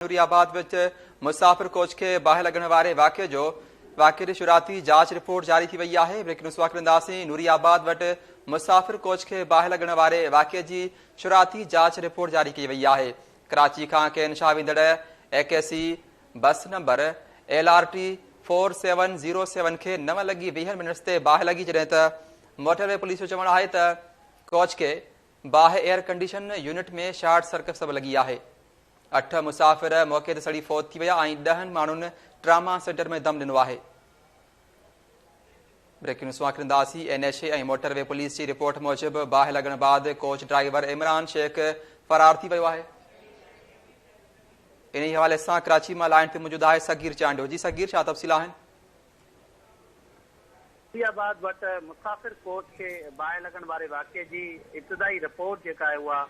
نوري آباد وچ مسافر ڪوچ کي باهه لڳڻ واري واقعي جو واقعي جي شروعاتي جاچ رپورٽ جاري ٿي وئي آهي بريڪنگ نيوز واقعي ڏينداسين نوري آباد وٽ مسافر ڪوچ کي باهه لڳڻ واري واقعي جي شروعاتي جاچ رپورٽ جاري ڪئي وئي آهي ڪراچي کان ڪين شاهه ويندڙ A K C bus number L R T four seven zero seven کي نو لڳي ويهن منٽس تي باهه لڳي جڏهن ته موٽر وي پوليس جو چوڻ آهي ته ڪوچ کي باهه air condition unit ۾ short circuit سبب لڳي آهي. اٺ مسافر موقعي تي سڙي فوت ٿي ويا ۽ ڏهن ماڻهن ٽراما سينٽر ۾ دم ڏنو آهي. بريڪنگ نيوز سواکر انداسي N H A ۽ motorway police جي رپورٽ موجب باهه لڳڻ بعد ڪوچ ڊرائيور عمران شيخ فرار ٿي ويو آهي انهي حوالي سان ڪراچي مان لائن تي موجود آهي صغير چانڊيو جي صغير ڇا تفصيل آهن اسلام آباد وٽ مسافر ڪوچ کي باهه لڳڻ واري واقعي جي ابتدائي رپورٽ جيڪا آهي اها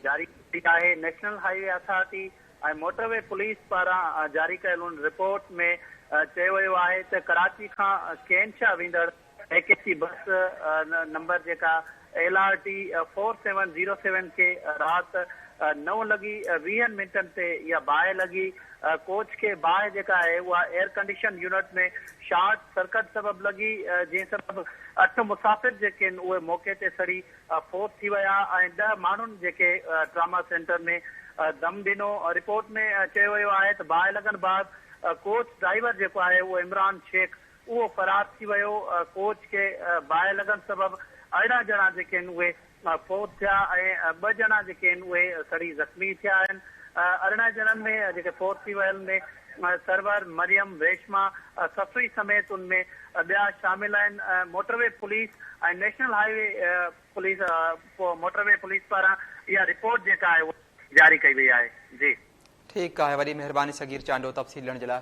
جاري ڪئي وئي آهي national highway authority ۽ motorway police پاران جاري ڪيل ان رپورٽ ۾ چيو ويو آهي ته ڪراچي کان ڪين شاهه ويندڙ A K C bus number جيڪا L R T four seven zero seven کي رات نو لڳي ويهن منٽن تي اها باهه لڳي، ڪوچ کي باهه جيڪا آهي اها air condition unit ۾ short circuit سبب لڳي جنهن سبب اٺ مسافر جيڪي آهن اهي موقعي تي سڙي فوت ٿي ويا ۽ ڏهه ماڻهن جيڪي ٽراما سينٽر ۾ دم ڏنو، رپورٽ ۾ چيو ويو آهي ته باهه لڳڻ بعد ڪوچ ڊرائيور جيڪو آهي اهو عمران شيخ اهو فرار ٿي ويو، ڪوچ کي باهه لڳڻ سبب ارڙهن ڄڻا جيڪي آهن اهي فوت ٿيا ۽ ٻه ڄڻا جيڪي آهن اهي سڙي زخمي ٿيا آهن، ارڙهن ڄڻن ۾ جيڪي فوت ٿي ويل ۾ سرور، مريم، ريشما، سسئي سميت ان ۾ ٻيا شامل آهن، motorway police ۽ national highway police motorway police پاران اها رپورٽ جيڪا آهي اها جاري ڪئي وئي آهي. جي. ٺيڪ آهي وڏي مهرباني صغير چانڊيو تفصيل ڏيڻ جي لاء.